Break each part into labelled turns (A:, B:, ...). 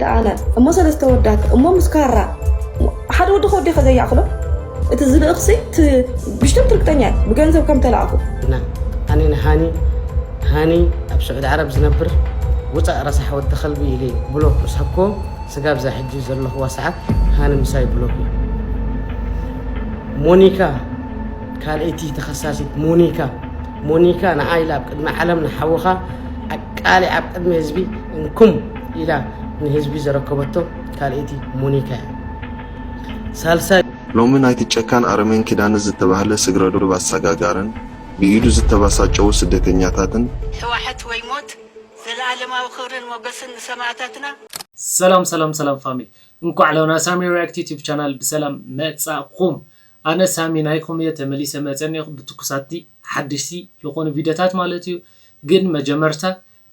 A: ደኣለ እሞ ሰለስተ ኣወዳት እሞ ምስ ካራ ሓደ ወዲ ከወዲ ከ ዘያእክሎ እቲ ዝልእኽሲ ብሽተት ርግጠኛ እዩ ብገንዘብ ከም ተላእኹ ኣነ
B: ንሃኒ ሃኒ ኣብ ስዑድ ዓረብ ዝነብር ውፃእ ረሳሕ ወዲ ከልቢ ኢለ ብሎክ እስሓኮ ስጋብ ዛ ሕጂ ዘለኹዋ ሰዓት ሃኒ ምሳይ ብሎክ እዩ ሞኒካ ካልኣይቲ ተኸሳሲት ሞኒካ ሞኒካ ንዓይ ኢላ ኣብ ቅድሚ ዓለም ንሓውኻ ኣቃሊ ኣብ ቅድሚ ህዝቢ እንኩም ኢላ ንህዝቢ ዘረከበቶ ካልኣይቲ ሞኒካ እያ። ሳልሳይ። ሎሚ ናይቲ
C: ጨካን ኣረሜን ኪዳነ ዝተባህለ ስግረዶብ ኣሳጋጋርን ብኢዱ ዝተባሳጨዉ ስደተኛታትን፣ ሕዋሐት ወይ
D: ሞት ዘላኣለማዊ ክብርን ሞገስን ንሰማኣታትና። ሰላም ሰላም
E: ሰላም ፋሚሊ እንኳዕ ሎ ና ሳሚ ሪኣክት ዩቱብ ቻናል ብሰላም መጻእኩም ኣነ ሳሚ ናይኩም እየ ተመሊሰ መጸ እኔኩ ብትኩሳቲ ሓደሽቲ ልኮኑ ቪደታት ማለት እዩ ግን መጀመርታ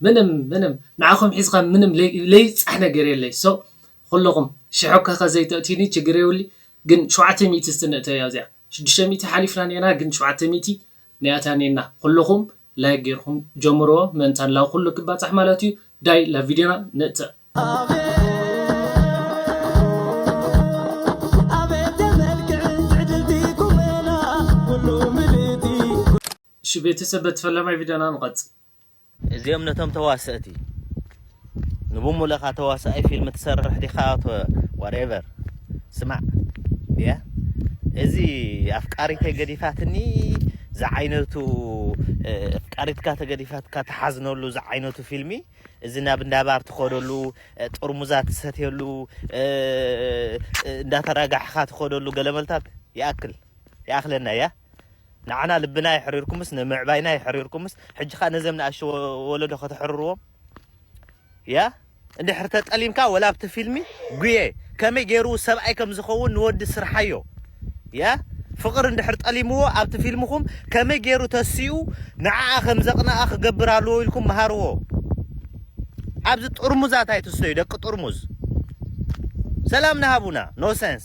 E: ምንም ምንም ንዓኹም ሒዝኻ ምንም ለይብጻሕ ነገር የለይ so ኹሉኹም ሽሕ እኳ ከዘይ ተእትዩኒ ችግር የውሊ ግን ሸውዓተ ሚእቲ እስቲ ንእተያ እዚኣ ሽዱሽተ ሚእቲ ሓሊፍና ኔና ግን ሸውዓተ ሚእቲ ኒኣታ ኔና ኹሉኹም like ጌርኹም ጀምርዎ ምእንታን ላብ ኹሉ ክባጻሕ ማለት እዩ ዳይ ላብ ቪድዮና ንእተእ። እሺ ቤተሰብ በቲ ፈላማይ ቪድዮና ንቐጽል። እዚኦም
F: ነቶም ተዋሰእቲ ንብሙልእካ ተዋሳኣይ ፊልም ትሰርሕ ዲካ ኣቶ whatever ስማዕ ድያ እዚ ኣፍቃሪተይ ገዲፋትኒ ዝዓይነቱ ኣፍቃሪትካ ተገዲፋትካ ትሓዝነሉ ዝዓይነቱ ፊልሚ እዚ ናብ እንዳባር ትኸደሉ ጥርሙዛት ትሰትየሉ እንዳተራጋሕካ ትኸደሉ ገለመልታት ይኣክል ይኣክለና እያ ንዓና ልብና የሕሪርኩምስ ንምዕባይና የሕሪርኩምስ ሕጂ ከኣ ነዘም ንኣሽቱ ወለዶ ከተሕርርዎም ያ እንድሕር ተጠሊምካ ወላ ኣብቲ ፊልሚ ጉየ ከመይ ጌሩ ሰብኣይ ከም ዝኸውን ንወዲ ስርሓዮ ያ ፍቕሪ እንድሕር ጠሊምዎ ኣብቲ ፊልምኹም ከመይ ጌሩ ተሲኡ ንዓኣ ከም ዘቕንኣ ክገብር ኣለዎ ኢልኩም ምሃርዎ ኣብዚ ጥርሙዛት ኣይትስተዩ ደቂ ጥርሙዝ ሰላምና ሃቡና ኖ ሰንስ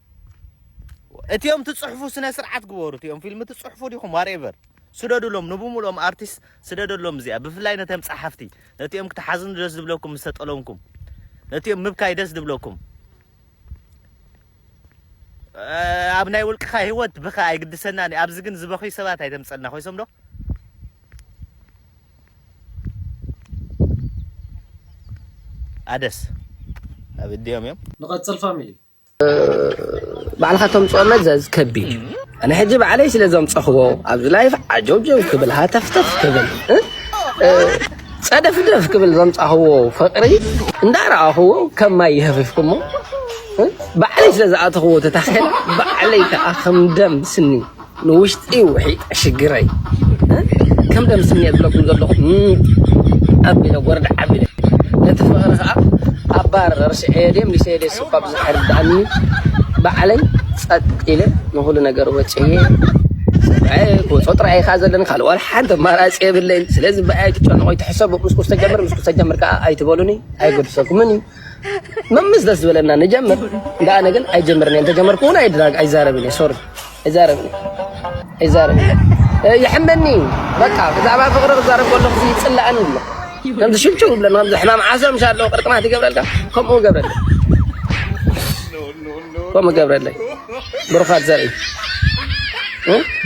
F: እቲኦም ትጽሕፉ ስነ ስርዓት ግበሩ እቲኦም ፊልም ትጽሕፉ ዲኹም ዋሬቨር ስደዱሎም ንብሙሉኦም ኣርቲስት ስደደሎም እዚኣ ብፍላይ ነቶም ጸሓፍቲ ነቲኦም ክትሓዝኑ ደስ ዝብለኩም ምስ ተጠለምኩም ነቲኦም ምብካይ ደስ ዝብለኩም ኣብ ናይ ውልቅኻ ህይወት ብኻ ኣይግድሰናን ኣብዚ ግን ዝበኽዩ ሰባት ኣይተምፀልና ኮይሶም ዶ ኣደስ ኣብ እዲኦም እዮም ንቐጽል ፋሚሊ
E: ባዕልኻ
B: ተምፅኦ መዘዝ ከቢድ እዩ ኣነ ሕጂ ባዕለይ ስለ ዘምፀኽዎ ኣብዚ ላይፍ ዓጀውጀው ክብል ሃተፍተፍ ክብል ፀደፍደፍ ክብል ዘምፃኽዎ ፍቅሪ እንዳረኣኽዎ ከም ማይ ይህፍፍኩሞ ባዕለይ ስለ ዝኣተኽዎ ተታኺለ ባዕለይ ከዓ ከም ደም ስኒ ንውሽጢ ውሒጠ ሽግረይ ከም ደምስሚየ ዝብለኩም ዘለኹ ኣቢለ ጎርደዕ ኣቢለ ነቲ ፍቕሪ ከኣ ኣብ ባር ረሲዐዮ ድየ ምሊሰዮ ድየስ እኳ ብዘይርደኣኒ ባዕለይ ጸጥ ኢለ ንኹሉ ነገር ወጺኤ ሰብኣየ ክወጾ ጥራይ ከኣ ዘለኒ ካልእ ዋላ ሓንቲ ኣማራጺ የብለይን ስለዚ ብኣይ ኣይትጨነቑ ኣይትሕሰቡ ምስ ኩስተጀምር ምስ ኩስተጀምር ከኣ ኣይትበሉኒ ኣይገድሰኩምን እዩ መምስ ደስ ዝበለና ንጀምር እንዳ ኣነ ግን ኣይጀምርን እየ ተጀመርኩ እውን ኣይድራግ ኣይዛረብን እየ ሶሪ ኣይዛረብን ኣይዛረብን ይሕመኒ እዩ በቃ ብዛዕባ ፍቅሪ ክዛረብ ከለኩ ይፅላእን ኣሎ ከምዚ ሽብሽብ ብለና ከምዚ ሕማም ዓሶ ምሻ ኣለዎ ቅርጥማት ይገብረልካ ከምኡ ገብረለ ከምኡ ገብረለ ብሩኻት ዘርኢ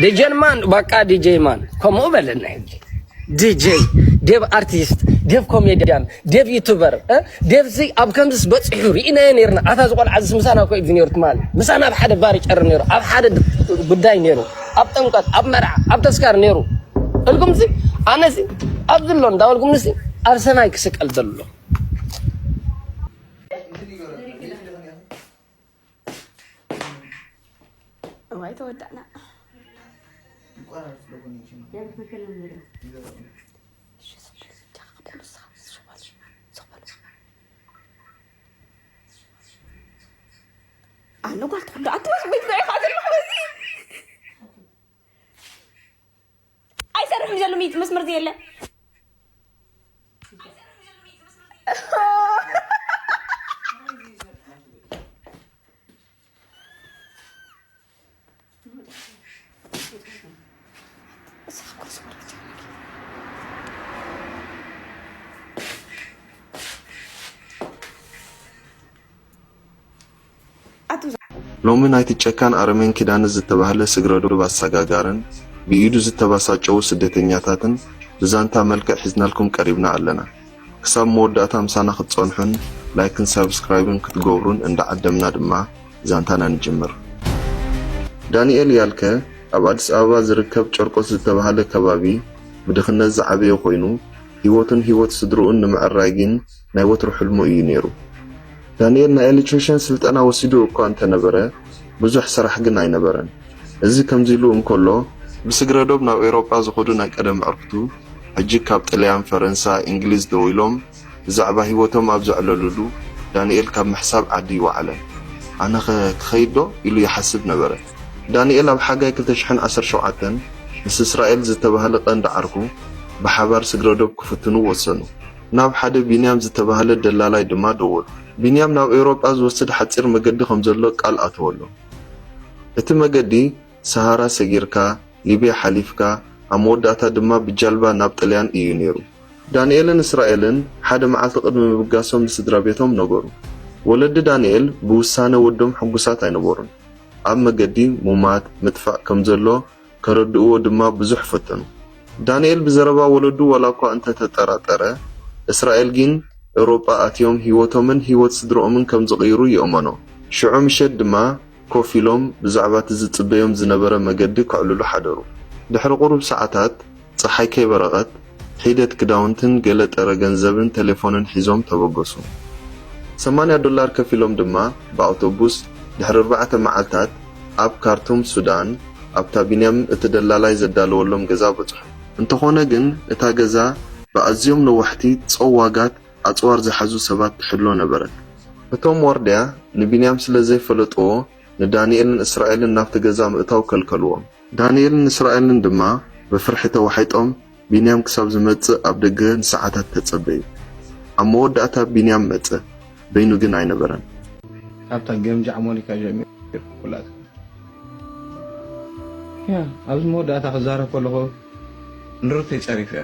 B: ዲጀን ማን በቃ ዲጀይ ማን ከምኡ በለና ዲጀይ ዴብ ኣርቲስት ዴብ ኮሜዲያን ዴቭ ዩቱበር ዴቭ እዚ ኣብ ከምዚስ በጺሑ ርኢናዮ ኔርና ኣታ እዚ ቆልዓ እዚ ምሳና እኮ እዩ ኔሩ ትማሊ ምሳና ኣብ ሓደ ባር ይጨርር ኔሩ ኣብ ሓደ ጉዳይ ኔሩ ኣብ ጥምቀት ኣብ መርዓ ኣብ ተስካር ኔሩ እልኩም እዚ ኣነ እዚ ኣብዚ ኣሎ እንዳበልኩም ንሲ ኣብ ሰማይ ክስቀል ዘሎ
A: እዋይ ተወዳእና ኣነ ጓል ትኩንዶ ኣትበስ ቤት ዘይ ኣይሰርሕን ዘሎ ሚት መስመር ዘየለ
C: ሎሚ ናይቲ ጨካን ኣረሜን ኪዳነ ዝተባህለ ስግረዶብ ኣሳጋጋርን ብኢዱ ዝተባሳጨዉ ስደተኛታትን ብዛንታ መልክዕ ሒዝናልኩም ቀሪብና ኣለና ክሳብ መወዳእታ ምሳና ክትጸንሑን ላይክን ሳብስክራይብን ክትገብሩን እንዳዓደምና ድማ ዛንታና ንጅምር። ዳኒኤል ያልከ ኣብ ኣዲስ ኣበባ ዝርከብ ጨርቆስ ዝተባህለ ከባቢ ብድኽነት ዝዓበየ ኮይኑ፣ ህይወቱን ህይወት ስድርኡን ንምዕራይ ግን ናይ ወትሩ ሕልሙ እዩ ነይሩ። ዳኒኤል ናይ ኤሌክትሪሽን ስልጠና ወሲዱ እኳ እንተነበረ ብዙሕ ስራሕ ግን ኣይነበረን። እዚ ከምዚ ኢሉ እንከሎ፣ ብስግረዶብ ናብ ኤውሮጳ ዝኸዱ ናይ ቀደም ኣዕርኽቱ ሕጂ ካብ ጥልያን፣ ፈረንሳ፣ እንግሊዝ ደዊሎም ብዛዕባ ህይወቶም ኣብ ዘዕለሉሉ ዳኒኤል ካብ ምሕሳብ ዓዲ ወዓለ። ኣነኸ ክኸይድዶ? ኢሉ ይሓስብ ነበረ። ዳኒኤል ኣብ ሓጋይ ክልተ ሽሕን ዓሰርተ ሸውዓተን ምስ እስራኤል ዝተባህለ ቀንዲ ዓርኩ ብሓባር ስግረዶብ ክፍትኑ ወሰኑ። ናብ ሓደ ቢንያም ዝተባህለ ደላላይ ድማ ደወሉ። ቢንያም ናብ ኤውሮጳ ዝወስድ ሓጺር መገዲ ከም ዘሎ ቃል ኣተወሎም። እቲ መገዲ ሰሃራ ሰጊርካ፣ ሊብያ ሓሊፍካ፣ ኣብ መወዳእታ ድማ ብጃልባ ናብ ጥልያን እዩ ነይሩ። ዳንኤልን እስራኤልን ሓደ መዓልቲ ቅድሚ ምብጋሶም ንስድራቤቶም ነገሩ። ወለዲ ዳንኤል ብውሳነ ወዶም ሕጉሳት ኣይነበሩን። ኣብ መገዲ ሙማት፣ ምጥፋእ፣ ከም ዘሎ ከረድእዎ ድማ ብዙሕ ፈተኑ። ዳንኤል ብዘረባ ወለዱ ዋላኳ እንተ ተጠራጠረ፣ እስራኤል ጊን ኤውሮጳ ኣትዮም ህይወቶምን ህይወት ስድርኦምን ከም ዝቕይሩ ይእመኖ። ሽዑ ምሸት ድማ ኮፍ ኢሎም ብዛዕባ እቲ ዝጽበዮም ዝነበረ መገዲ ከዕልሉ ሓደሩ። ድሕሪ ቁሩብ ሰዓታት፣ ጸሓይ ከይበረቐት፣ ሒደት ክዳውንትን ገለ ጥረ ገንዘብን ተሌፎንን ሒዞም ተበገሱ። ሰማንያ ዶላር ከፊሎም ድማ ብኣውቶቡስ ድሕሪ ኣርባዕተ መዓልታት ኣብ ካርቱም፣ ሱዳን፣ ኣብታ ቢንያም እቲ ደላላይ ዘዳለወሎም ገዛ በጽሑ። እንተኾነ ግን እታ ገዛ ብኣዝዮም ነዋሕቲ ጸዋጋት ኣጽዋር ዝሓዙ ሰባት ትሕሎ ነበረት። እቶም ዋርድያ ንቢንያም ስለ ዘይፈለጥዎ፣ ንዳንኤልን እስራኤልን ናብቲ ገዛ ምእታው ከልከልዎም። ዳንኤልን እስራኤልን ድማ ብፍርሒ ተዋሒጦም ቢንያም ክሳብ ዝመጽእ ኣብ ደገ ንሰዓታት ተጸበዩ። ኣብ መወዳእታ ቢንያም መጸ፣ በይኑ ግን ኣይነበረን። ካብታ
G: ገምጃዕ ሞኒካ ጀሚሩ ኩላቶም ኣብዚ መወዳእታ ክዛረብ ከለኹ ንርተይ ጸሪፈዮ።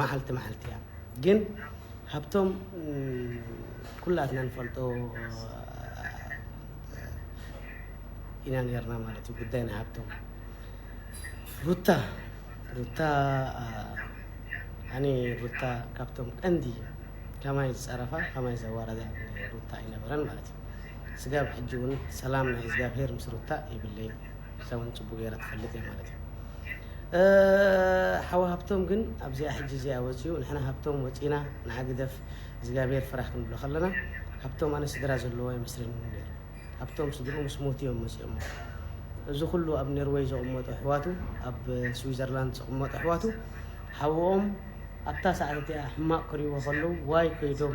H: ማዓልቲ ማዓልቲ እያ ግን ሃብቶም ኩላትና ንፈልጦ ኢና ነርና ማለት እዩ ጉዳይ ናይ ሃብቶም ሩታ ሩታ ኣነ ሩታ ካብቶም ቀንዲ ከማይ ዝፀረፋ ከማይ ዘዋረዳ ሩታ ኣይነበረን ማለት ስጋብ ሕጂ ውን ሰላም ናይ እዝጋብሄር ምስ ሩታ የብለይን ንሳ ውን ጽቡቅ ጌራ ትፈልጥ እያ ማለት እዩ ሓው ሃብቶም ግን ኣብዚኣ ሕጂ እዚኣ ወጺኡ ንሕና ሃብቶም ወጺና ንዓ ግደፍ እዝጋብሄር ፍራሕ ክንብሎ ከለና ሃብቶም ኣነ ስድራ ዘለዎ ኣይመስለንን እዩ ነይሩ ሃብቶም ስድርኡ ምስ ሞቱ እዮም መጺኦሞ እዚ ኩሉ ኣብ ኔርወይ ዘቕመጡ ኣሕዋቱ ኣብ ስዊዘርላንድ ዘቕመጡ ኣሕዋቱ ሓውኦም ኣብታ ሰዓት እቲኣ ሕማቕ ክሪእዎ ከለዉ ዋይ ከይዶም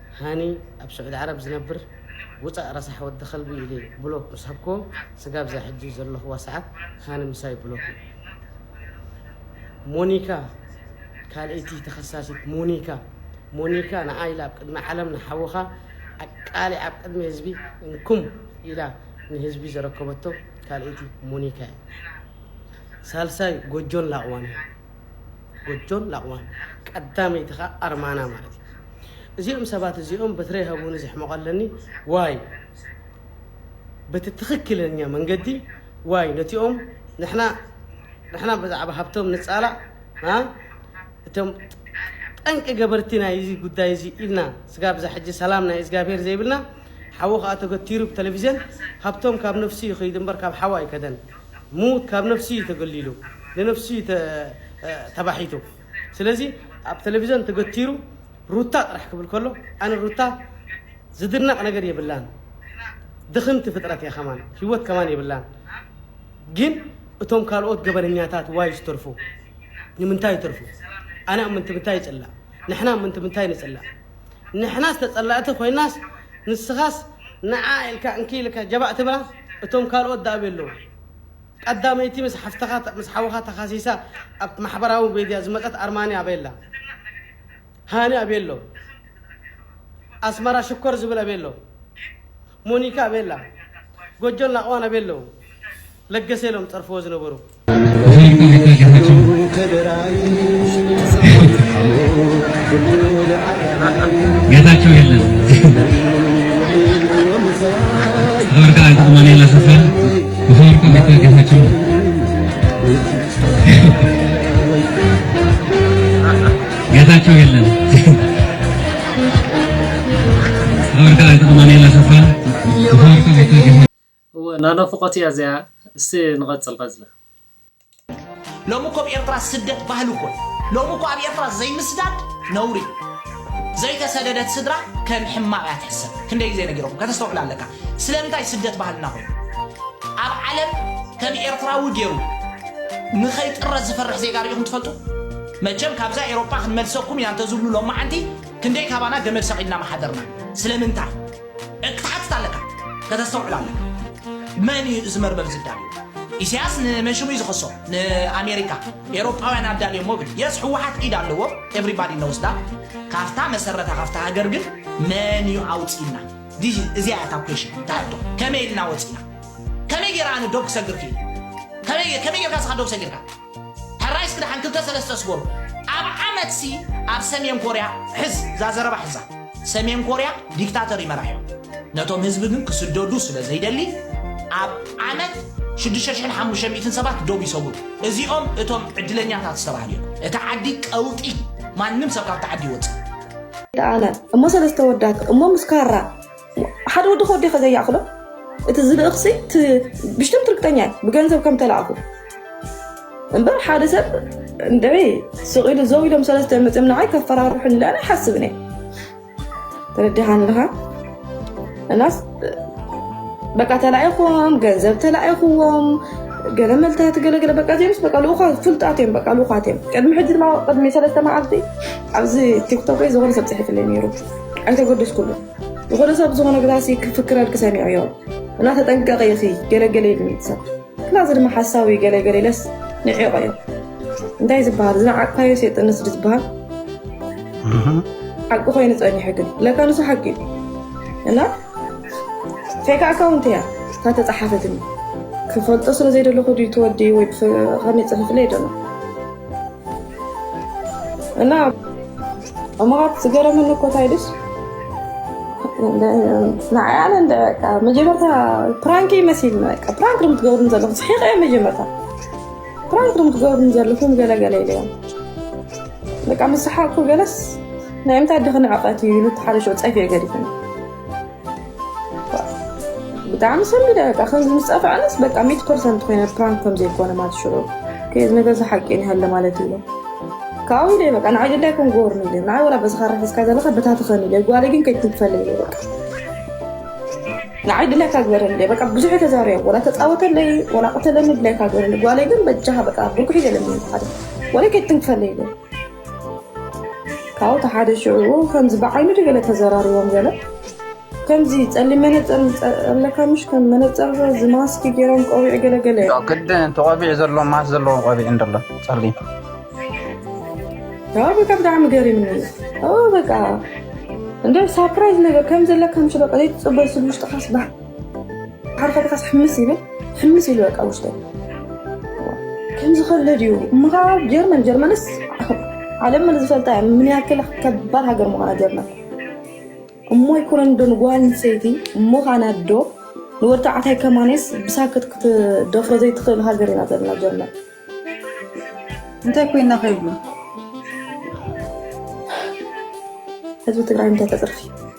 H: ሃኒ ኣብ ስዑዲ ዓረብ ዝነብር ውጻእ ረሳሕ ወዲ ከልቢ ኢለ ብሎክ ምስ ሃብክዎ ስጋብ እዛ ሕጂ ዘለኽዋ ሰዓት ሃኒ ምሳይ ብሎክ እዩ። ሞኒካ ካልእይቲ ተኸሳሲት ሞኒካ ሞኒካ ንዓ ኢላ ኣብ ቅድሚ ዓለም ንሓውኻ ኣቃሊዓ ኣብ ቅድሚ ህዝቢ እንኩም ኢላ ንህዝቢ ዘረከበቶ ካልእይቲ ሞኒካ እያ። ሳልሳይ ጎጆን ላቕዋን እዮም። ጎጆን ላቕዋን ቀዳመይቲ ከኣ ኣርማና ማለት እዩ እዚኦም ሰባት እዚኦም በትረይ ሀቡኒ ዘሕመቐለኒ ዋይ በቲ ትኽክለኛ መንገዲ ዋይ ነቲኦም ንሕና ንሕና ብዛዕባ ሃብቶም ንጻላእ እቶም ጠንቂ ገበርቲ ናይ እዚ ጉዳይ እዚ ኢልና ስጋብ እዛ ሕጂ ሰላም ናይ እግዚኣብሄር ዘይብልና ሓዉ ከኣ ተገቲሩ ብተለቪዝን ሃብቶም ካብ ነፍሱ ይኽይድ እምበር ካብ ሓዉ ኣይከደን ምዉት ካብ ነብሱ እዩ ተገሊሉ ንነብሱ እዩ ተባሒቱ ስለዚ ኣብ ተለቪዞን ተገቲሩ ሩታ ጥራሕ ክብል ከሎ ኣነ ሩታ ዝድነቅ ነገር የብላን ድኽምቲ ፍጥረት እያ ከማን ሂወት ከማን የብላን ግን እቶም ካልኦት ገበነኛታት ዋይ ዝተርፉ ንምንታይ ይተርፉ ኣነ ኣብ ምንትምንታይ ይጽላእ ንሕና ኣብ ምንትምንታይ ንጽላእ ንሕናስ ተጸላእቲ ኮይናስ ንስኻስ ንዓ ኢልካ እንኪ ኢልካ ጀባእ ትብላ እቶም ካልኦት ድኣ ኣበይ ኣለዉ ቀዳመይቲ ምስ ሓፍትኻ ምስ ሓውኻ ተኻሲሳ ኣብ ማሕበራዊ ሜድያ ዝመጸት ኣርማንያ ኣበይ ኣላ ሃኒ ኣበይ ኣሎ ኣስመራ ሽኮር ዝብል ኣበይ ኣሎ ሞኒካ ቤላ ጎጆን ናቕዋን ኣበይ ኣለው ለገሰ ኢሎም ዝጸርፍዎ ዝነበሩ። ጌታቸው
I: የለን ወርቅ አይጠቅማን የለ ሰፈር ወርቅ ቤተ ጌታቸው ጌታቸው የለን ናናፍቆት
E: እያ እዚኣ እስቲ ንቀፅል ቀፅሊ።
J: ሎሚ እኮ ኣብ ኤርትራ ስደት ባህሊ እኮ እዩ። ሎሚ እኮ ኣብ ኤርትራ ዘይምስዳድ ነውሪ እዩ። ዘይተሰደደት ስድራ ከም ሕማቕ እያ ትሕሰብ። ክንደይ ግዜ ነጊረኩም ከተስተውዕል ኣለካ። ስለምንታይ ስደት ባህልና ኮይኑ ኣብ ዓለም ከም ኤርትራዊ ገይሩ ንኸይጥረ ዝፈርሕ ዜጋ ርኢኹም ትፈልጡ? መቸም ካብዛ ኤሮጳ ክንመልሰኩም ኢና እንተዝብሉ ሎማዓንቲ ክንደይ ካባና ገመድ ሰቂልና ምሓደርና ስለምንታይ እ ክትሓትት ኣለካ ከተስተውዕል ኣለካ መን እዩ እዚ መርመር ዝዳልዎ ኢሳያስ ንመን ሽሙ እዩ ዝኸሶ ንኣሜሪካ ኤሮጳውያን ኣዳልዮሞ ብል የስ ሕወሓት ኢድ ኣለዎ ኤቭሪባዲ ኖውስ ዳት ካፍታ መሰረታ ካፍታ ሃገር ግን መን እዩ ኣውጺና ዲዚ እዚኣ እያ እታ ኩዌሽን እታ ሕቶ ከመይ ኢልና ወጺና ከመይ ጌራ ኣነ ዶብ ክሰግር ክኢለ ከመይ ከመይ ጌርካ ስኻ ዶብ ሰጊርካ ሕራይ እስኪ ደሓን ክልተ ሰለስተ ስገሩ ኣብ ዓመት ሲ ኣብ ሰሜን ኮርያ ሕዝ እዛ ዘረባ ሕዛ ሰሜን ኮርያ ዲክታተር እዩ መራሒኦም ነቶም ህዝቢ ግን ክስደዱ ስለ ዘይደሊ ኣብ ዓመት 6500 ሰባት ዶብ ይሰውሩ እዚኦም እቶም ዕድለኛታት ዝተባህሉ እዮም እቲ ዓዲ ቀውጢ ማንም ሰብ ካብቲ ዓዲ ይወፅእ ተኣለ
A: እሞ ሰለስተ ወዳት እሞ ምስ ካራ ሓደ ወዲ ከወዲኸ ዘይኣኽሎ እቲ ዝልእኽሲ ብሽትም ትርግጠኛ እዩ ብገንዘብ ከም ተላእኹ እምበር ሓደ ሰብ እንደ ስቕ ኢሉ ዘው ኢሎም ሰለስተ መፅም ንዓይ ከፈራርሑ ንላለ ሓስብን እየ ተረዲኻን ኣለኻ እናስ በቃ ተላኢኹም ገንዘብ ተላኢኹዎም ገለ መልታት ገለገለ በቃ ዜምስ በቃ ልኡኻ ፍልጣት እዮም በቃ ልኡኻት እዮም ቅድሚ ሕጂ ድማ ቅድሚ ሰለስተ መዓልቲ ኣብዚ ቲክቶክ ዝኾነ ሰብ ፅሒፍለይ ነይሩ ኣይተገደስኩሉ ዝኾነ ሰብ ዝኾነ ግራሲ ክፍክረልኪ ሰሚዐዮ እና ተጠንቀቂ ኢኺ ገለገለ ይብል ሰብ ክላ እዚ ድማ ሓሳዊ እዩ ገለገለ ኢለስ ንዒቆ እዩ እንታይ ዝበሃል ዝነዓቅካዮ ሴጥነት ስዲ ዝበሃል ሓቂ ኮይኑ ፀኒሑ ግን ለካ ንሱ ሓቂ እዩ እና ፌክ ኣካውንት እያ እታ ተፃሓፈትኒ ክፈልጦ ስለ ዘይደለኹ ድዩ ትወዲ ወይ ከመይ ፅሑፍለ ይደሎ እና እሞኻት ዝገረመኒ እኮ እንታይ ድስ ንዓይ ኣነ እንደ በቃ መጀመርታ ፕራንክ ይመስልኒ በቃ ፕራንክ ድም ትገብሩን ዘለኹም ስሒቐ እየ መጀመርታ ፕራንክ ድም ትገብሩን ዘለኹም ገለገለ ኢለዮም በቃ ምስ ሰሓቕኩ ገለስ ናይ ምንታይ ድኽኒ ዕቐት እዩ ኢሉ ተሓሪሾ ፀፊ ገዲፉኒ ብጣዕሚ ሰንቢደ በቃ ከምዚ ምስ ጸፍዐንስ በቃ ሚት ፐርሰንት ኮይነ ፕራንክ ከም ዘይኮነ ማለት ሽዑ ከዚ ነገር ሓቂ ይሃለ ማለት እዩ ካብኡ ኢለ በቃ ንዓይ ደላይ ከም ጎርኒ ኢለ ንዓይ ወላ በዚ ካራ ሒዝካ ዘለካ በታትኸን ኢለ ጓለይ ግን ከይትንክፈለ ኢለ በቃ ንዓይ ድላይካ ግበረኒ ኢለ በቃ ብዙሕ ተዛሪቦ ወላ ተፃወተለይ ወላ ቅተለኒ ድላይካ ግበረኒ ጓለይ ግን በጃኻ በቃ ብርኩሒ ገለኒ ሓደ ወላ ከይትንክፈለ ኢለ ካብኡ ተሓደ ሽዑ ከምዚ ብዓይኑ ዶ ገለ ተዘራሪቦም ገለ ከምዚ ጸሊም መነጸር ኣለካ ምሽ ከም መነጸር እዚ ማስክ ገይሮም ቆቢዕ ገለ ገለ ግድ እቲ ቆቢዕ
K: ዘለዎ ማስ ዘለዎ ቆቢዕ እንደሎ ጸሊም
A: ያው በቃ ብጣዕሚ ገሪምኒ በቃ እንደ ሳፕራይዝ ነገር ከም ዘለካ ምሽ በቃ ዘይትጽበ ስብ ውሽጥካ ስባሕ ሓደ ሓደ ካስ ሕምስ ይብል ሕምስ ኢሉ በቃ ውሽጠ ከምዚ ከለ ድዩ እምኻ ጀርመን ጀርመንስ ዓለም መን ዝፈልጣ እያ ምን ያክል ከባድ ሃገር ምዃና ጀርመን እሞ ይኮነን ዶ ንጓል ሰይቲ እሞ ካና ዶ ንወዲ ተባዕታይ ከማኔስ ብሳክት ክትደፍሮ ዘይትኽእል ሃገር ኢና ዘለና ጀርመን
L: እንታይ ኮይና ከይብሉ ህዝቢ ትግራይ እንታይ ተፅርፊ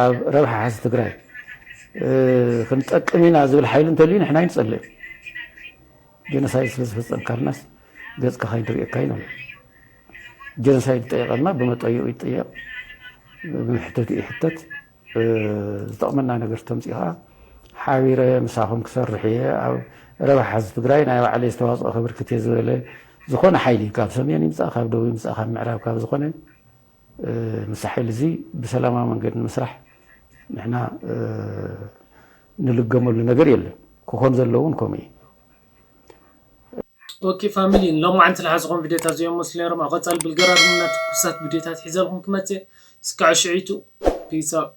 M: ኣብ ረብሓ ሕዝቢ ትግራይ ክንጠቅም ኢና ዝብል ሓይሊ እንተልዩ ንሕና ኣይንፀልእን። ጀኖሳይድ ስለዝፈፀምካልናስ ገፅካ ካይንርእየካ ኢና ንብል። ጀኖሳይድ ዝጠየቐልና ብመጠይኡ ይጠየቕ፣ ብመሕተትኡ ይሕተት። ዝጠቕመና ነገር ተምፅኡ ከዓ ሓቢረ ምሳኹም ክሰርሕ እየ ኣብ ረብሓ ህዝቢ ትግራይ ናይ ባዕለይ ዝተዋፅኦ ከብርክት እየ ዝበለ ዝኾነ ሓይሊ ካብ ሰሜን ይምፃእ ካብ ደቡብ ይምፃእ ካብ ምዕራብ ካብ ዝኾነ ምስዚ ሓይሊ እዚ ብሰላማዊ መንገዲ ንምስራሕ ንሕና ንልገመሉ ነገር የለን። ክኾን ዘለዎ እውን ከምኡ እዩ።
E: ኦኬ ፋሚሊ ንሎማዓንቲ ልሓዝኹም ቪድዮታት እዚኦም ይመስሉ ነይሮም ኣብ ቀፃሊ ብልገራርምን እና ትኩሳት ቪድዮታት ሒዘልኩም ክመፅ እየ እስካዕ ሽዒቱ Peace out።